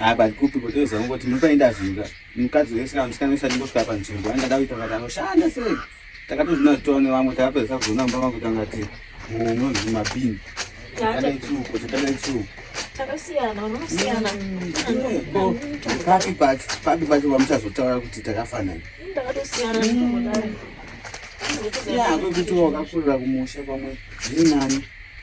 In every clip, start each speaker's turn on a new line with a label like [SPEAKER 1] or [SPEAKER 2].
[SPEAKER 1] Ah, but kupi kuti uzongoti muri paenda zvinga mukadzi wese kana musikana wese atingosvika panzvimbo angada kuita kuti anoshanda sei takatozvina kuti tone vamwe takapedza kuzoona mumba mangu kuti angati unonzi mabini takadai chuko takadai
[SPEAKER 2] chuko papi
[SPEAKER 1] pacho papi pacho vamuchazotaura kuti takafanana ya
[SPEAKER 2] kwekutiwo
[SPEAKER 1] wakakurira kumusha pamwe zviri nani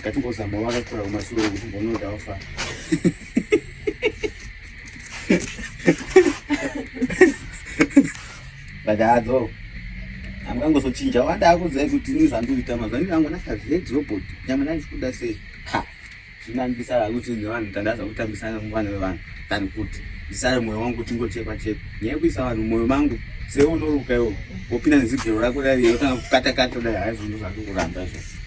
[SPEAKER 1] Ngatimbozama wakakura kumasure kuti mbonoda wafa. Badadzo. Amkangozochinja wanda akudzai kuti ini zvandoita mazuva ini angu nakazvedi robot. Nyama nani kuda sei? Ha. Zvinandisa lakuti nevanhu tandaza kutambisana muvana vevanhu. Tani kuti ndisare moyo wangu kuti ngochekwa chekwa. Nyaya kuisa vanhu moyo mangu seunoruka iwo wopinda nezigero rako raiye otanga kukatakata dai haizvo ndozvakukuramba izvozvo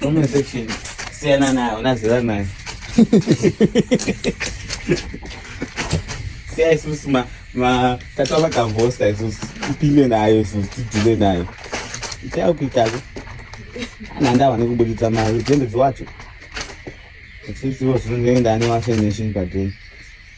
[SPEAKER 2] Comment
[SPEAKER 1] section. Siyana nayo, unazira nayo. Siya isusu ma ma tata vakavosta isusu tipime nayo isusu tidhile nayo. Chao kuitako. Ana ndawa nekubuditsa mari dzembedzi wacho. Sisi wo zvinenge ndani washe nation padeni.